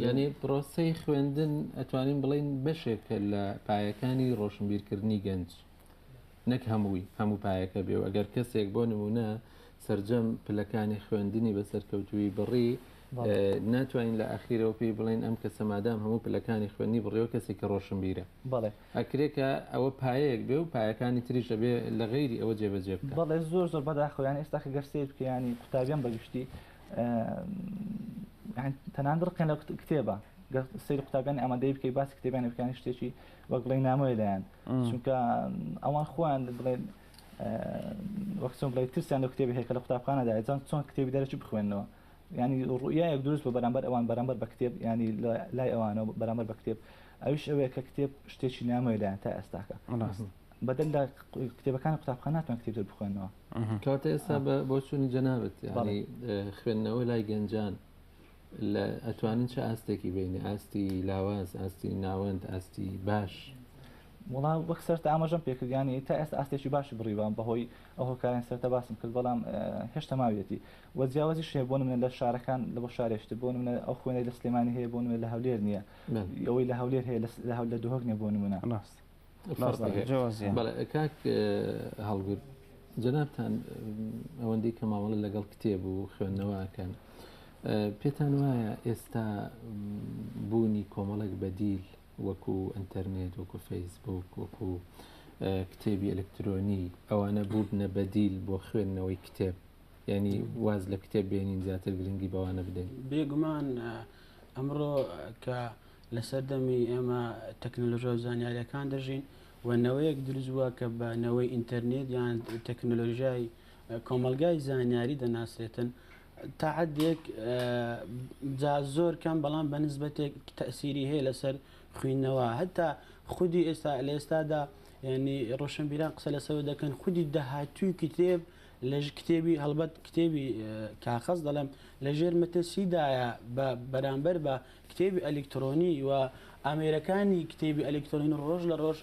یانی پرۆسەی خوێندن ئەتوانین بڵین بەشێکە لە پایەکانی ڕۆشنبیرکردنی گەنج نەک هەمووی هەموو پایەکە بێ و ئەگەر کەسێک بۆ نمونە سرجەم پلەکانی خوێندنی بە سەرکەوتوی بڕی ناتوانین لە ئاخیرەوە پێی بڵین ئەم کە سەمادام هەموو پلەکانی خوێنی بڕێەوە کەسی کە ڕۆشنبیرە بڵێ ئەکرێکە ئەوە پایەیەک بێ و پایەکانی تریشە بێ لە غیری ئەوە جێبەجێ بڵێ زۆر زۆر بەداخۆیان ئێستا گەرسێت بکەیانی قوتابیان بەگشتی تەنان ڕقێن لە کتێبە گەر سری قوتابیانی ئامادەی بکەی باسی کتێبیان بکانی شتێکی وەک بڵێ نامۆی لایەن چونکە ئەوان خۆیان بڵێن وەخسم بڵێ ترسیان لە کتێبی هەیە کە لە قوتابخانەدا ئەجان چۆن کتێبی دەرەکی بخوێنەوە ینی ڕویایەک دروست بە بەرامبەر ئەوان بەرامبەر بە کتێب ینی لای ئەوانەوە بەرامبەر بە کتێب ئەوش ئەوەیە کە کتێب شتێکی نامۆی لایەن تا ئێستاکە بەدەر لە کتێبەکانی قوتابخانە ناتوان کتێب تر بخوێنەوە. کەواتە ئێستا بۆ چوونی جەنابەت یانی خوێندنەوە لای گەنجان لە ئەتوانن چه ئاستێکی بینی ئاستی لاواز ئاستی ناوەند ئاستی باش. وڵا وەک سەرت ئاماژەم پێکردیانی تا ئێستا ئاستێکی باشی بڕیوان بەهۆی ئەو هۆکارن سەرتە باسم کرد بەڵام هێشتا ماویەتی وە جیاوازی شێ بۆ منە لە شارەکان لە بۆ شارێشتر بۆ منە ئەو خوێنەی لە سلێمانی هەیە بۆ منە لە هەولێر نییە ئەوەی لە هەولێر هەیە لە هەول لە دهۆک نیە بۆ منە ڕاست کاک هەڵگوت جەنابان ئەوەندەی کە مامەڵە لەگەڵ کتێب و خوێندنەوەکەن پێتان وایە ئێستا بوونی کۆمەڵێک بەدیل وەکو ئەتەرنێت وەکو فەیسبوک وەکو کتێبی ئەلکترۆنی ئەوانە بووبنە بەدیل بۆ خوێندنەوەی کتێب ینی واز لە کتێب بێنین زیاتر گرنگی بەوانە بدەین بێگومان ئەمڕۆ کە لە سەردەمی ئێمە تەکنەلۆژیا و زانیاریەکان دەژین و نەوەیەک دروست بووە کە بە نەوەی ئینتەرنێت یان تەکنەلۆژیای کۆمەلگای زانیاری دەناسرێتن تاعدێک جا زۆر کەم بەڵام بە نسبەتێک تەسیری هەیە لەسەر خوێندنەوە هەتا خودی ئێستا لە ئێستادا ینی ڕۆشنبیران قسە لەسەوە دەکەن خودی داهاتوی کتێب لەژ کتێبی هەڵبەت کتێبی کاخەز دەڵێم لەژێر مەتەسیدایە بە بەرامبەر بە کتێبی ئەلیکترۆنی و ئامێرەکانی کتێبی ئەلیکترۆنی ڕۆژ لە ڕۆژ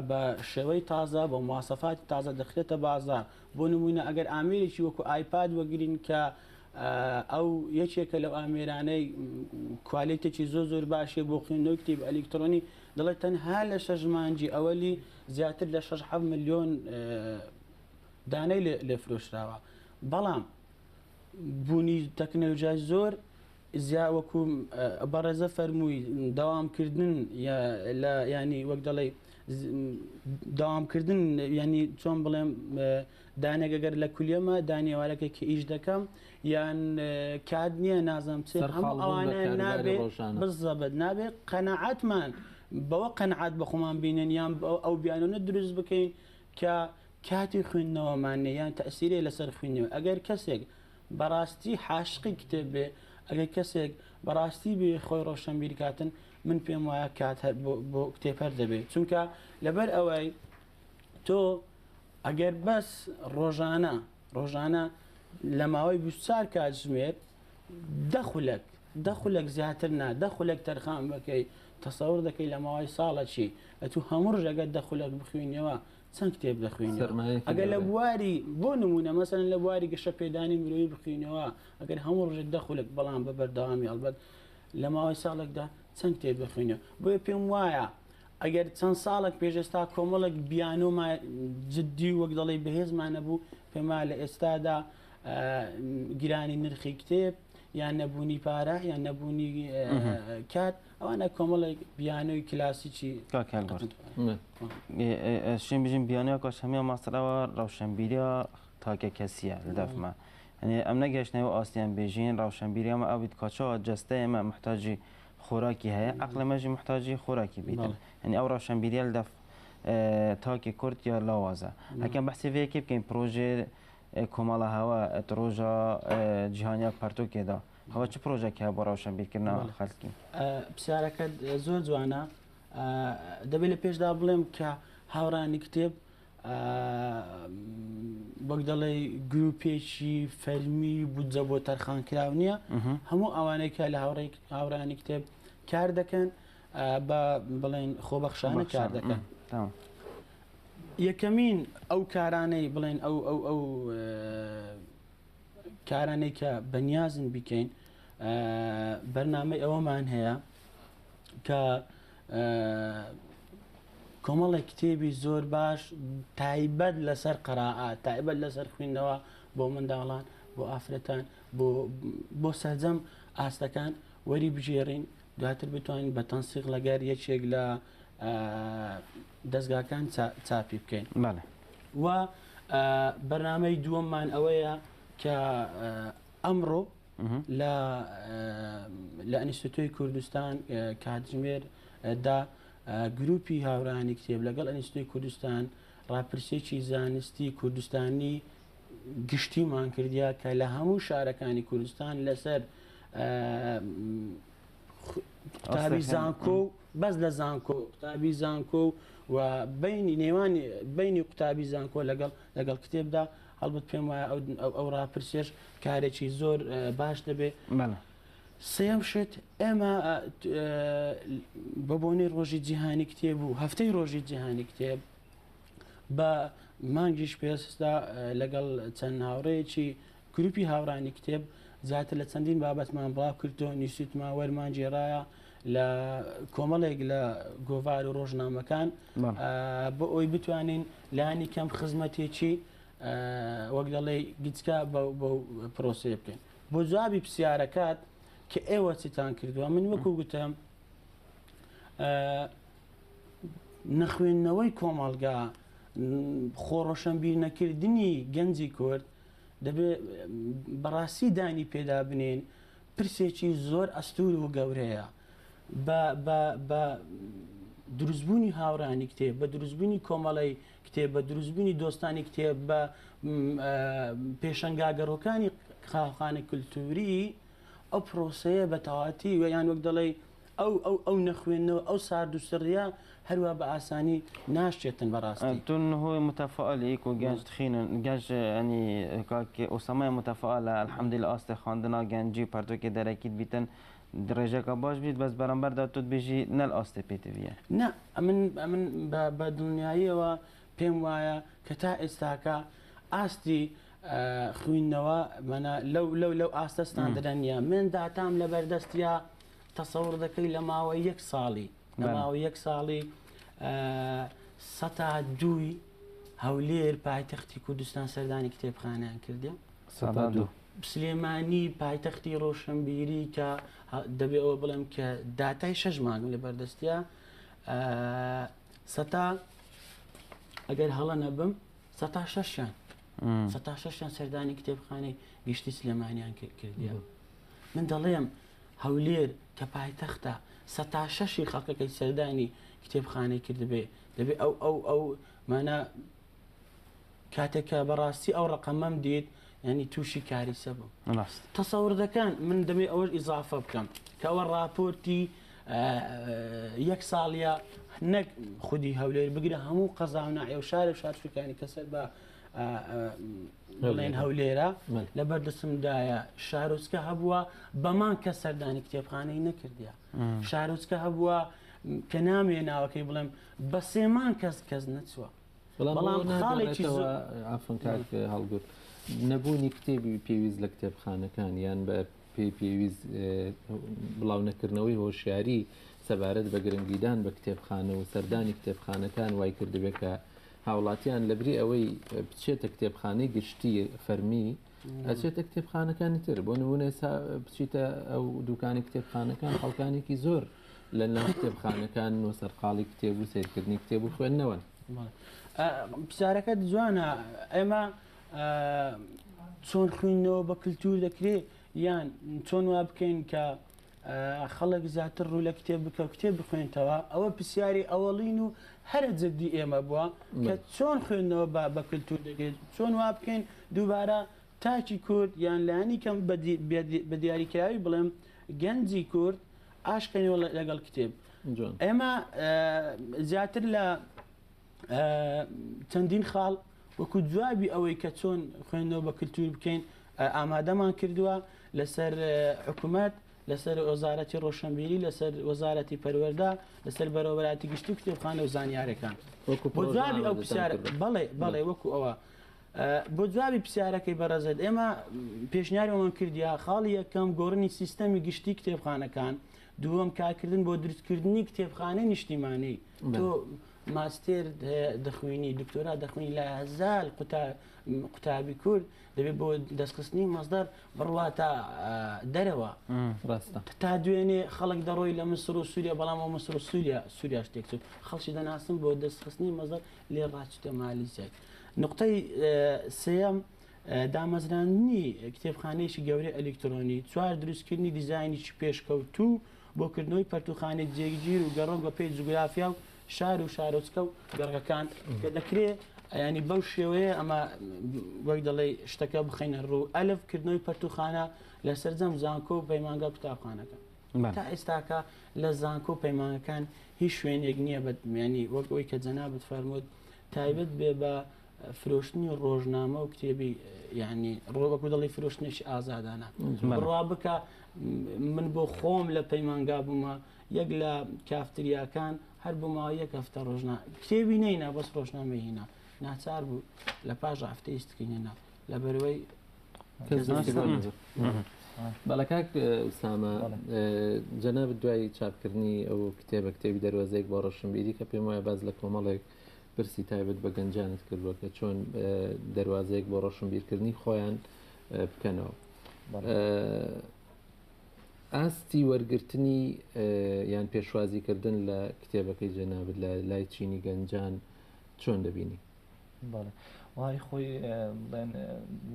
بە شێوەی تازە بە موواسەفاتی تازە دەخرێتە بازار بۆ نموینە ئەگەر ئامێرێکی وەکو ئایپاد وەگرین کە ئەو یەکێکە لەو ئامێرانەی کوالێتێکی زۆ زۆر باشێ بۆ خوێندنەوە کتێب ئەلیکترۆنی دەڵێت تەنها لە شەژمانجی ئەوەلی زیاتر لە 6 میلیۆن دانەی لێ فرۆشراوە بەڵام بوونی تەکنەلۆژیای زۆر زیا وەکو بەڕێزە فەرمووی داوامکردن لە ینی وەک دەڵێ داوامکردن ینی چۆن بڵێم دانێک گەر لە کولیەمە دانیێوارەکێک کە ئیش دەکەم یان کات نییە نازم چێ هەموو ئەوانە نابێ بزەبت نابێ قەنەعاتمان بەوە قەنعات بە خۆمان بینن یان ئەو بیانونە دروست بکەین کە کاتی خوێندنەوەمان نیە یان تەئسیرێ لەسەر خویندنەوە ئەگەر کەسێک بەڕاستی حاشقی کتێب بێ ئەگەر کەسێک بەڕاستی بێ خۆی ڕۆشەنبیرکاتن من پێم وایە کات هەر بۆ بۆ کتێب هەر دەبێ چونکە لەبەر ئەوەی تۆ ئەگەر بەس ڕۆژانە ڕۆژانە لە ماوەی بیست و چوار کاتژمێر دە خولەک دە خولەک زیاتر نا دە خولەک تەرخان بەکەی تەسەور دەکەی لە ماوەی ساڵەچی ئەتو هەموو ڕژەگە دە خولەک بخوێنیەوە چەند کتێب دەخوێن ئەگەر لە بواری بۆ نمونە مەسەن لە بواری گەشە پێدانی مرۆی بخوێنەوە ئەگەر هەموو ڕژێک دە خولەک بەڵام بە بەردەوامی ئەڵبەت لە ماوەی ساڵێکدا چەند کتێب بخوێنە بۆیە پێم وایە ئەگەر چەند ساڵێک پێش ئێستا کۆمەڵێک بیانۆمان جددی و وەک دەڵێی بەهێزمان نەبوو، پێم وایە لە ئێستادا گرانی نرخی کتێب یان نەبوونی پارە یان نەبوونی کات ئەوانە کۆمەڵێک بیانۆی کلاسیکی شوێن بژین بیانە کاش هەمیا ماستەرەوە ڕەوشەمبیریا تاکە کەسیە لە دەفمە ئەم نەگەشتنەوە ئاستیان بێژین ڕەوشەمبیریامە ئەویت کاچەوە جەستەیەمە محتاجی خۆراکی هەیە ئەقڵی مەژی محتاجی خۆراکی بیتن هەنی ئەو ڕەوشەنبیریل دەف تاکی کورد یا لاوازە هەکەم بەحسی وەیەکی بکەین پرۆژێ کۆمەڵە هەوە ڕۆژە جیهانیا پەرتوکێدا هەوە چ پرۆژێکی هەیە بۆ ڕەوشەنبیرکردنا خەلکی پرسیارەکەت زۆر جوانە دەبێت لە پێشدا بڵێم کە هاوڕانی کتێب وەک دەڵێ گروپێکی فەرمی بودجە بۆ تەرخانکراو نییە هەموو ئەوانەی کە لە هاوڕێک هاورانی کتێب کار دەکەن بە بڵێن خۆبەخشانە کار دەکەن. یەکەمین ئەو کارانەی بڵێن ئەو ئەو ئەو کارانەی کە بەنیازن بیکەین بەرنمەی ئەوەمان هەیە کە کۆمەڵێک کتێبی زۆر باش تایبەت لەسەر قەرائات تایبەت لەسەر خوێندنەوە بۆ منداڵان بۆ ئافرەتان بۆ سەرجەم ئاستەکان وەری بژێڕین دواتر بتوانین بە تەنسیق لەگەر یەکێک لە دەستگاکان چاپی بکەین و بەرنمەی دووەممان ئەوەیە کە ئەمڕۆ لە لە ئەنیستۆی کوردستان کاتژمێر دا گروپی هاورانی کتێب لەگەڵ ئەنیستۆی کوردستان راپرسێکی زانستی کوردستانی گشتیمان کردیا کە لە هەموو شارەکانی کوردستان لەسەر قوتابی زانکۆ و بەس لە زانکۆ قوتابی زانکۆ و بینی نێوان بینی قوتابی زانکۆ لەگەڵ لەگەڵ کتێبدا هەڵبەت پێم وایە ئەو ئەو- ئەو ڕاپرسیەش کارێکی زۆر اه، باش دەبێ بەڵێ سێم شت ئێمە اه، ت- اه، بە بۆنەی ڕۆژی جیهانی کتێب و هەفتەی ڕۆژی جیهانی کتێب بە مانگیش پێستا اه، لەگەڵ چەند هاوڕێیەکی گروپی هاوڕانی کتێب زیاتر لە چەندین بابەتمان بڵاو کردو نیسوتماوەرمان گێڕایە لە کۆمەڵێک لە گۆڤار و ڕۆژنامەکان بۆ ئەوی بتوانین لانی کەم خزمەتێکی وەک دەڵێ گچکە بە پرۆسێ بکەین بۆ جوابی پرسیارەکات کە ئێوە چتان کردووە من وەکو گوتم نەخوێندنەوەی کۆمەڵگا خۆڕۆشنبیر نەکردنی گەنجی کورد دەبێت بەڕاستی دانی پێدا بنێن پرسێکی زۆر ئەستوور و گەورەیە بە بە بە دروستبوونی هاوڕانی کتێب بە دروستبوونی کۆمەڵی کتێب بە دروستبوونی دۆستانی کتێب بە پێشنگاگەڕۆکانی خاخانە کللتوری ئەو پرۆسەیە بە تەواتی ویان وەک دەڵێ ئەو ئەو ئەو نەخوێندنەوە ئەو سارد و سڕیە هەروا بە ئاسانی ناشێتن بەڕاستی. تو نهو متفائل ئی کو گنج تخین گنج ینی کاک ئوسامە متفائلە الحمدللە ئاستێ خواندنا گنجی و پەرتوکێ دەرەکیت بیتن رێژەکە باش بیت بەس بەرامبەردا تو دبێژی نەل ئاستێ پێت بیە. نا ئەمن ئەمن بە بە دڵنیاییەوە پێم وایە کە تا ئێستاکە ئاستی خویندنەوە مەنا لەو لەو لەو ئاستە ستاندرە نیە مێن داتام لەبەردەستیا تەسەور دەکەی لە ماوەی یەک ساڵی لە ماوەی یەک ساڵی سەتا دووی هەولێر پایتەختی کوردستان سەردانی کتێبخانیان کردێ سلێمانی پایتەختی ڕۆشنبیری کە دەبێ ئەوە بڵێم کە داتای شەش مانگ لە بەردەستە سەتا ئەگەر هەڵە نەبم سەتا شەشیان سەتا شەشیان سەردانی کتێبخانەی گشتی سلێمانیان کردیان من دەڵێم هەولێر کە پایتەختە سەتا شەشی خەڵکەکەی سەردانی کتێبخانەی کردبێ دەبێ ئەو ئەو ئەو مانا کاتێکە بەڕاستی ئەو ڕقەمەم دیت ینی تووشی کاریسە بوو تەسەوردەکان من دەمێ ئەوەش ئیزافە بکەم کەەوە راپۆرتی یەک ساڵە نەک خودی هەولێر بگرە هەموو قەزااو ناعێ و شارە شارچکانی کەسەر بە بڵێن هەولێرە لە بەردەسمدایە شارۆچکە هەبووە بەمان کە سەردانی کتێبخانەی نەکردە شارۆچکە هەبووە کە نامێ ناوەکەی بڵێم بە سێمان کەس کەس نەچووە بەڵام خاڵێکی ئافنکار هەڵگوت نەبوونی کتێبی پێویست لە کتێبخانەکان یان بە پێی پێویست بڵاو نەکردنەوەی هۆشیاری سەبارەت بە گرنگیدان بە کتێبخانە و سەردانی کتێبخانەکان وای کردبێت کە هاوڵاتیان لەبری ئەوەی بچێتە کتێبخانەی گشتی فەرمی ئەچێتە کتێبخانەکانی تر بۆ نمونە سا بچیتە ئەو دوکانی کتێبخانەکان خەڵکانێکی زۆر لە ناو کتێبخانەکان و سەرقاڵی کتێب و سیرکردنی کتێب و خوێندنەوەن پرسیارەکە جوانە ئێمە چۆن خوێندنەوە بە کللتور دەکرێت یان چۆن وا بکەین کە خەڵک زیاتر ڕوو لە کتێب بکە و کتێب بخوێنتەوە ئەوە پرسیاری ئەوەڵین و هەرە جددی ئێمە بووە کە چۆن خوێندنەوە با بە کللتور دەگرێت چۆن وا بکەین دووبارە تاکی کورد یان لانی کەم بە دیاریکراوی بڵێم گەنجی کورد ئاشقێنەوە لەگەڵ کتێب ئێمە زیاتر لە چەندین خاڵ وەکو جوابی ئەوەی کە چۆن خوێندنەوە بە کللتور بکەین ئامادەمان کردووە لەسەر حکوومەت لەسەر وەزارەتی ڕۆشنبیری لەسەر وەزارەتی پەروەەردا لەسەر بەرەوەراتی گشتی کتێبخانە و زانیارەکان جوابی ئەو پرسیار بڵێ بڵێ وەکو ئەوە بۆ جوابی پرسیارەکەی بەڕێزت ئێمە پێشنیارەوەمان کردیا خاڵی یەکەم گۆڕنی سیستەمی گشتی کتێبخانەکان دووەم کارکردن بۆ دروستکردنی کتێبخانەی نیشتیمانەی تۆ ماستێر دەخوێنی دکتۆرا دەخوێنی لە هەزار قوتابی کورد دەبێت بۆ دەستخستنی مەزدار بڕواتە دەرەوە ڕاستە تا دوێنێ خەڵک دەڕۆی لە مسر و سووریا بەڵام ئەو مسر و سووریا سووریا شتێک چوت خەڵکی دەناسم بۆ دەستخستنی مەزەر لێ ڕاچتە مالیزای نقطەی سم دامەزراندنی کتێبخانەیەکی گەورەی ئەلیکترۆنی. چوار دروستکردنی دیزاینێکی پێشکەوتوو بۆ کردنەوەی پەرتووخانەی جێگیر و گەڕۆک بە پێی جوگرافیا و شار و شارۆچکە و گەڕەکەکان کە دەکرێ ینی بەو شێوەیە ئەمە وەک دەڵێ شتەکە بخینە ڕوو ئەلف کردنەوەی پەرتوخانە لە سەررجەم زانکۆ و پەیمانگا قوتابخانەکە تا ئێستاکە لە زانکۆ و پەیمانەکان هیچ شوێنێک نییە بەمیانی وەک ئەوی کە جەنابەت فەرمووت تایبەت بێ بە فرۆشتنی ڕۆژنامە و کتێبی یعنی ڕۆبەکو دڵی فرۆشتنێکی ئازادانە بڕوا بکە من بۆ خۆم لە پەیمانگا بوومە یەک لە کافتریاکان هەر بۆ ماوە یەک هەفتە ڕۆژنا کتێبی نەینا بەس ڕۆژنامەهینا ناچار بوو لە پاش هەفتەیستکردنا لە بەروەی بەڵە کاک ئوسامە جەناب دوای چاپکردنی ئەو کتێبە کتێبی دەروازێک بۆ ڕەشنبیری کە پێم وایە باز لە کۆمەڵێک پرسی تایبەت بە گەنجانت کردووە کە چۆن دەروازێک بۆ ڕەشنبیرکردنی خۆیان بکەنەوە. ئاستی وەرگرتنی یان پێشوازیکردن لە کتێبەکەی جەنابت لە لای چینی گەنجان چۆن دەبینی؟ بەڵێ وای خۆی بڵێن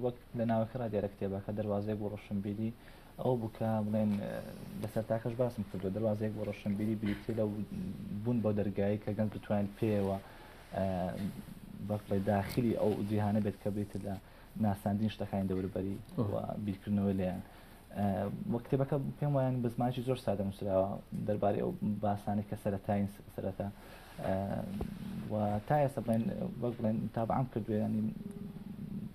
وەک لە ناوەکە را دێرە کتێبەکە دەواازێک بۆ ڕشنبیری ئەو بکە بڵێن لەسەر تاکەش باسم کردو دەواازێک بۆ ڕشنبیری بریتێ لە بوون بۆ دەرگایی کە گەنج بتوانین پێوە بەڵێ داخلی ئەو جیهانە بێت کە بێت لە ناساندین شتەکانی دەوروبەری و بیرکردنەوەی لێیان وە کتێبەکە پێم وایان بە زمانکی زۆر سادە نووسراوە دەربارەی ئەو باسانی کە سەرەتاین سەرەتا تا ئێستا بڵێن وەک بڵێن تابعام کردوێنی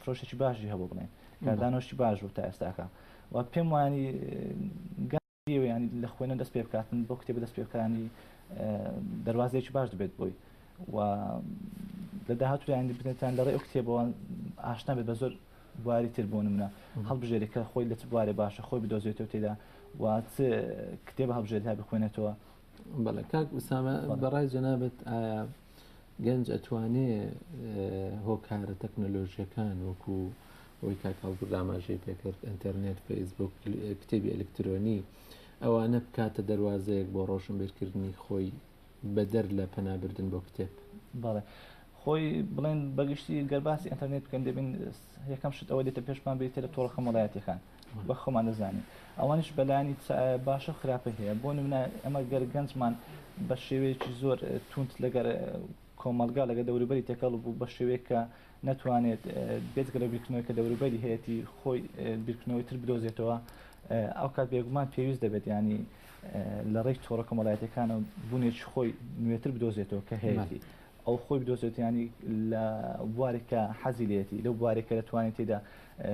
فرۆشێکی باشی هەبوو بڵێن کاردانۆشتی باش بوو تا ئێستاکە و پێم وانی یانی لە خوێنە دەست پێ بکاتن بۆ کتێبە دەست پێکانی دەواازێکی باش دەبێت بۆی و لە داهاتویانی بنێتان لە ڕێ ئەو کتێبەوەن ئاشنا بێت بە زۆر بواری تر بۆ منە هەڵبژێری کە خۆی لە چ بوارێ باشە خۆی بدۆزێتەوە تێدا و کتێبە هەبژێت هەبخوێنێتەوە بەڵێ کاک ئوسامە بەڕای جەنابەت ئایا گەنج ئەتوانێ هۆکارە تەکنەلۆژیەکان وەکو ئەوی کاکاڵپور داماژەی پێکرد ئەتەرنێت فەیسبوک کتێبی ئەلکترۆنی ئەوانە بکاتە دەواازەیەک بۆ ڕۆشن بێرکردنی خۆی بەدەر لە پەنابردن بۆ کتێب بەڵێ خۆی بڵێن بەگشتی گەرباسی ئەتەرنێت بکەن دەبین یەکەم شت ئەوە دێتە پێشمان بریتە لە تۆڕە خەمەڵایەتەکان بە خۆمان دەزانین ئەوانش بەلانی باشە خراپی هەیە بۆ نمونە ئەمە گەر گەنجمان بە شێوەیەکی زۆر تونند لەگەر کۆمەلگا لەگە دەوروبەری تێکەڵ بوو بە شێوەیەکە ناتوانێت بێتگە لە بیرکردنەوەی کە دەوروبەری هەیەی خۆی بیرکردنەوەی تر بدۆزێتەوە ئەو کات بێگومان پێویست دەبێت ینی لە ڕێی تۆڕە کۆمەڵایەتەکانە بوونێکی خۆی نوێتر بدۆزێتەوە کە هەیەی ئەو خۆی بدۆزێت یانی لە بوارێک کە حەزی لێتی لەو بوارێک کە دەتوانێت تێدا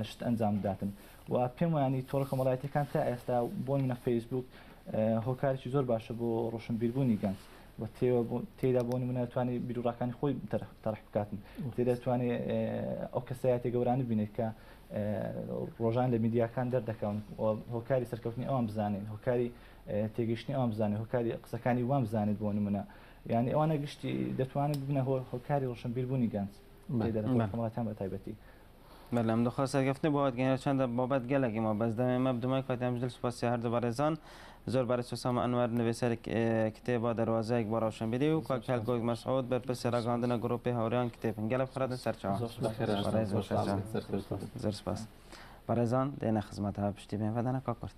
شت ئەنجام بداتن و پێم وانی تۆڕە کۆمەڵایەتەکان تا ئێستا بۆ منە فەیسبوک هۆکارێکی زۆر باشە بۆ ڕۆشنبیربوونی گەنج و تێدا بۆ منە توانێت بیرروڕاکانی خۆی تەرح بکاتن تێدا توانێت ئەو کەسایەتی گەورانی بینێت کە ڕۆژان لە میدیاکان دەردەکەون هۆکاری سەرکەوتنی ئەوان بزانین هۆکاری تێگەشتنی ئەوان بزانێت هۆکاری قسەکانی وان بزانێت بۆ منە یانی ئەوانە گشتی دەتوانن ببنە هۆ هۆکاری ڕۆشنبیر بوونی گەنج لە دەرەوەی بەلام کۆمەڵەکان بە تایبەتی بەلام دخوا سەرکەفتنی بۆ وادگەیەنە چەندە بابەت گەلەکی ما بەس دەمێ مە بدمای کاتی ئەمش دل سوپاس سێ هەردوو بەڕێزان زۆر بەڕێز حسام ئەنوەر نوێسەر کتێبە دەروازەیەک بۆ ڕەوشەنبیری و کاک هەلکۆک مەسعود بەرپرسی ڕاگەیاندنە گروپی هاوڕێیان کتێبن گەلە بخرێتە سەر چاوان زۆر سوپاس کاک حسام بەڕێز زۆر سەرکەوتوو بن زۆر سوپاس بەڕێزان دێنە خزمەتەوە پشتی بێن بەدەنە کاک کورد